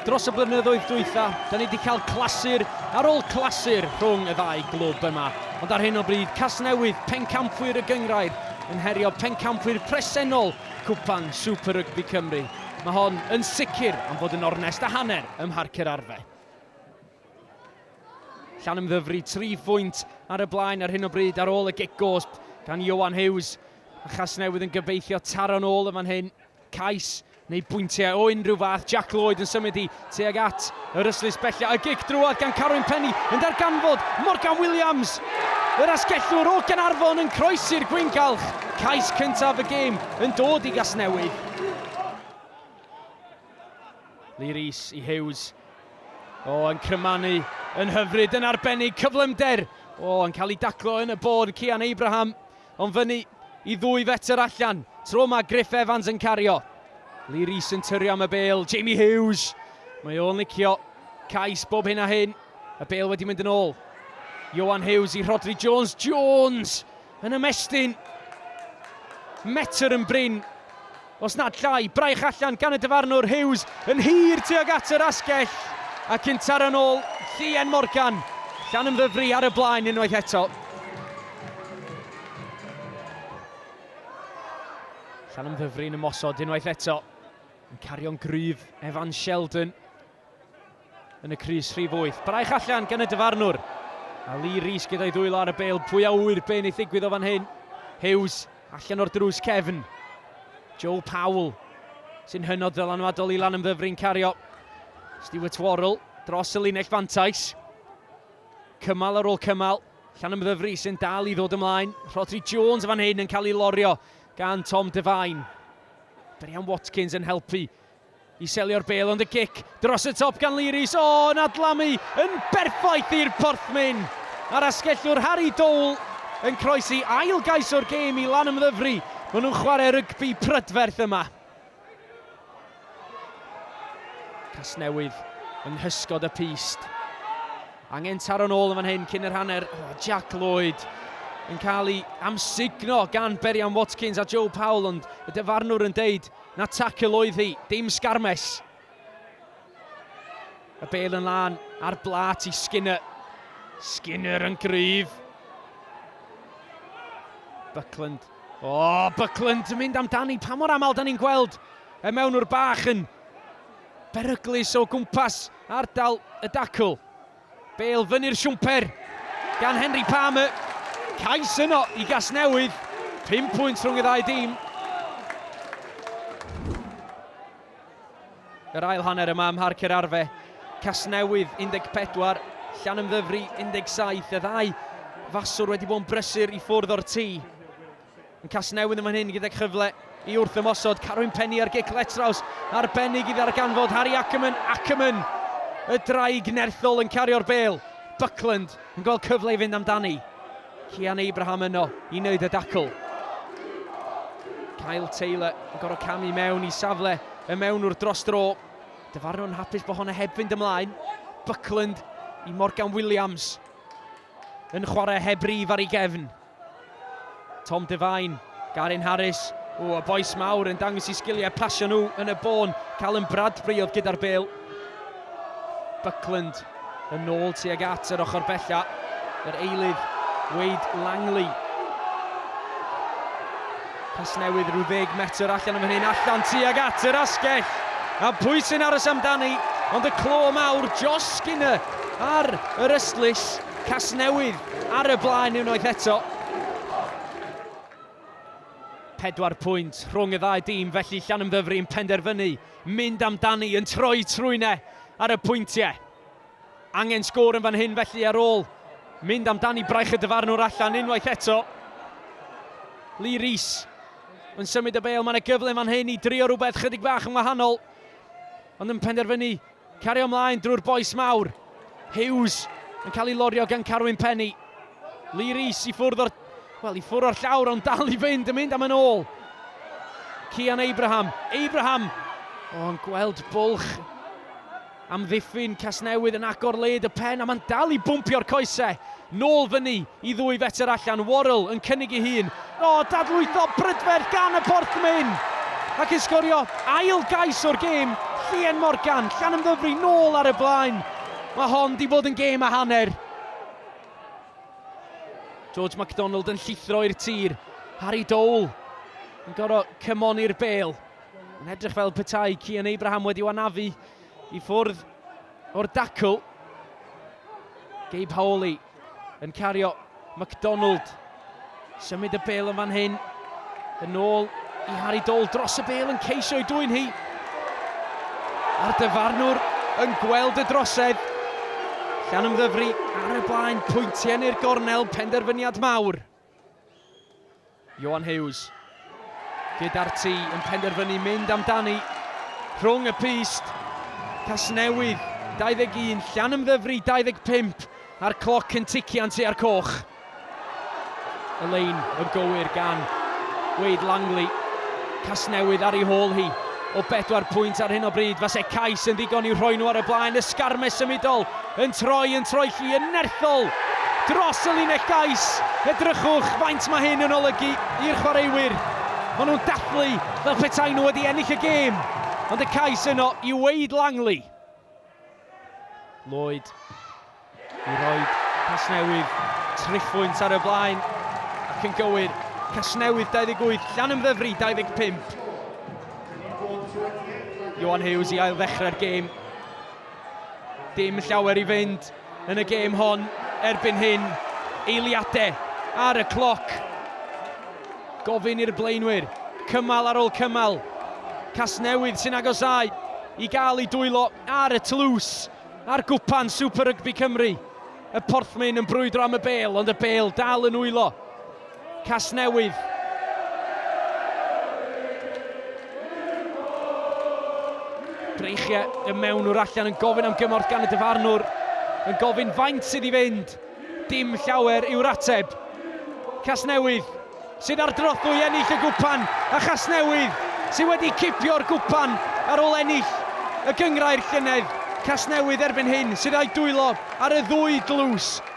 Dros y blynyddoedd dwytha, da ni wedi cael clasur ar ôl clasur rhwng y ddau glwb yma, ond ar hyn o bryd Casnewydd, pencampwyr y gynghrair, yn herio pencampwyr presennol Cwpan Super Rygbi Cymru. Mae hon yn sicr am fod yn ornest a hanner ym Mharc yr Arfe. Llanymddyfri tri phwynt ar y blaen ar hyn o bryd ar ôl y gig gosb gan Ioan Hughes. A Chasnewydd yn gobeithio taro'n ôl yn fan hyn. Cais neu bwyntiau o unrhyw fath, Jack Lloyd yn symud i tuag at yr ystlys bellach, a gic drwad gan Carwyn Penny yn darganfod Morgan Williams, yr asgellwr o Gaernarfon yn croesi'r gwyngalch, cais cyntaf y gêm yn dod i Gasnewydd. Lee Rees i Hughes, o yn crymanu yn hyfryd yn arbennig, cyflymder, o yn cael ei daclo yn y bôn, Cian Abraham Ond fyny i ddwy fetr allan. Tro yma Griff Evans yn cario. Lee Rees yn tyrio am y bel. Jamie Hughes. Mae o'n licio cais bob hyn a hyn. Y bel wedi mynd yn ôl. Johan Hughes i Rhodri Jones. Jones yn ymestyn. Metr yn brin. Os nad llai, braich allan gan y dyfarnwr Hughes yn hir tuag at yr asgell ac yn taro yn ôl Llien Morgan. Llanymddyfri ar y blaen unwaith eto. Llanymddyfri yn ymosod unwaith eto. Yn cario'n gryf, Evan Sheldon. yn y crys rhif wyth. Braich allan gan y dyfarnwr. A Lee Rees gyda'i ddwylo ar y bel. Pwy a ŵyr be wneith ddigwydd o fan hyn. Hughes allan o'r drws cefn. Joe Powell sy'n hynod ddylanwadol i lan ymddyfrin cario. Stuart Worrell dros y linell fantais. Cymal ar ôl cymal. Llan ymddyfri sy'n dal i ddod ymlaen. Rhodri Jones fan hyn yn cael ei lorio gan Tom Devine. Brian Watkins yn helpu I selio'r bêl ond y gic dros y top gan Lee Rees, o, yn adlamu yn berffaith i'r porthmyn a'r asgellwr Harry Dole yn croesi ail gais o'r gêm i Lanymddyfri, maen nhw'n chwarae rygbi prydferth yma. Casnewydd yng nghysgod y pyst. Angen taro'n ôl yn fan hyn cyn yr hanner. Oh, Jack Lloyd yn cael ei amsugno gan Berian Watkins a Joe Powell, ond y dyfarnwr yn deud Na tacl oedd hi, dim sgarmes. Y bel yn lan ar blat i Skinner. Skinner yn gryf. Buckland. O, oh, Buckland yn mynd amdani. Pa mor aml da ni'n gweld y mewnwr bach yn beryglus o gwmpas ardal y dacl. Bale fyny'r siwmper gan Henry Palmer. Cais yno i Gasnewydd. 5 pwynt rhwng y ddau dîm. Yr ail hanner yma ym Mharc yr Arfe. Casnewydd 14, Llanymddyfri 17. Y ddau faswr wedi bod yn brysur i ffwrdd o'r tŷ. Yn Casnewydd yn fan hyn gydag chyfle i wrth ymosod, Carwyn Penny ar gic letraws arbennig i ddarganfod Harry Ackerman, Ackerman y draig nerthol yn cario'r bêl, Buckland yn gweld cyfle i fynd amdani, Cian Abraham yno i wneud y dacl. Kyle Taylor yn gorfod camu mewn i safle y mewnwr dros dro, dyfarnw'n hapus bod hwnna heb fynd ymlaen, Buckland i Morgan Williams yn chwarae heb rif ar ei gefn. Tom Devine, Garyn Harris, o, y bois mawr yn dangos i sgiliau pasio nhw yn y bôn. Callum Bradbury oedd gyda'r bel. Buckland yn ôl tuag at yr ochr bella. Yr eilydd, Wade Langley. Pas newydd rhyw ddeg metr allan am hynny'n allan tuag at yr asgell. A pwy sy'n aros amdani? Ond y clo mawr, Josh Skinner ar yr ystlys. Casnewydd ar y blaen unwaith eto. Pedwar pwynt rhwng y ddau dîm felly Llanymddyfri yn penderfynu mynd amdani yn troi trwyn e ar y pwyntiau. Angen sgôr yn fan hyn felly ar ôl mynd amdani braich y dyfarnwr allan unwaith eto. Lee Rees yn symud y bêl, mae'n y gyfle fan hyn i drio rhywbeth chydig bach yn wahanol. Ond yn penderfynu Cario ymlaen drwy'r bois mawr. Hughes yn cael ei lorio gan Carwyn Penny. Lee Rees i ffwrdd o'r... Wel, i ffwrdd o'r llawr, ond dal i fynd, yn mynd am yn ôl. Cian Abraham. Abraham! O'n oh, gweld bwlch am ddiffyn Casnewydd yn agor led y pen, a mae'n dal i bwmpio'r coesau. Nôl fyny i ddwy fetr allan, Worrall yn cynnig ei hun. O, dadlwytho brydferth gan y porthmyn! Ac yn sgorio ail gais o'r gêm, Llien Morgan, Llanymddyfri nôl ar y blaen. Mae hon di fod yn gêm a hanner. George MacDonald yn llithro i'r tir. Harry Dole yn gorfod cymoni'r bel. Yn edrych fel petai Cian Abraham wedi wanafu i ffwrdd O'r dacl, Gabe Howley yn cario McDonald. Symud y bel yn fan hyn. Yn ôl i Harry Dole dros y bel yn ceisio ei dwy'n hi. A'r dyfarnwr yn gweld y drosedd. Llan ymddyfri ar y blaen, pwyntiau neu'r gornel, penderfyniad mawr. Johan Hughes gyda'r tŷ yn penderfynu mynd amdani rhwng y pyst. Casnewydd 21, Llanymddyfri 25 a'r cloc yn tician tua'r coch. Y lein yn gywir gan Wade Langley. Casnewydd ar ei hôl hi o bedwar pwynt ar hyn o bryd. Fase cais yn ddigon i'w rhoi nhw ar y blaen. Ysgarmes symudol Yn troi yn troelli yn nerthol dros y linell gais, edrychwch faint mae hyn yn olygu i'r chwaraewyr, maen nhw'n dathlu fel petai nhw wedi ennill y gêm, ond y cais yno i Wayde Langley. Lloyd i Royd Casnewydd, triphwynt ar y blaen ac yn gywir, Casnewydd 28, Llanymddyfri 25. Ioan Hughes i ail-ddechrau'r gêm. Dim llawer i fynd yn y gêm hon erbyn hyn. Eiliadau ar y cloc. Gofyn i'r blaenwyr, cymal ar ôl cymal. Casnewydd sy'n agosau i gael ei dwylo ar y tlws a'r gwpan Super Rygbi Cymru. Y Porthmyn yn brwydro am y bel, ond y bel dal yn wylo. Casnewydd. Dreichiau y mewn o'r allan yn gofyn am gymorth gan y dyfarnwr, yn gofyn faint sydd i fynd. Dim llawer yw'r ateb. Casnewydd sydd ar drothwy ennill y gwpan a Chasnewydd sydd wedi cipio'r gwpan ar ôl ennill y gyngrair llynedd. Casnewydd erbyn hyn sydd â'i dwylo ar y ddwy dlws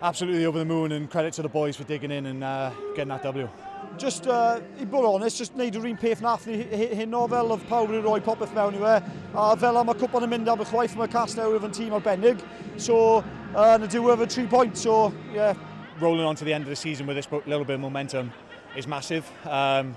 Absolutely over the moon and credit to the boys for digging in and uh, getting that W. Just, uh, i bod honest, just wneud yr un peth nath ni hyn o fel oedd pawb wedi rhoi popeth mewn i fe. A fel am y cwpan yn mynd am y chwaith mae cas newydd yn tîm arbennig. So, uh, yn y diwedd y tri pwynt, so, yeah. Rolling on to the end of the season with this little bit of momentum is massive. Um,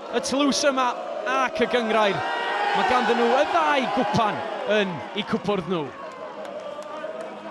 Y tlws yma ac y gynghrair, mae ganddyn nhw y ddau gwpan yn eu cwpwrdd nhw.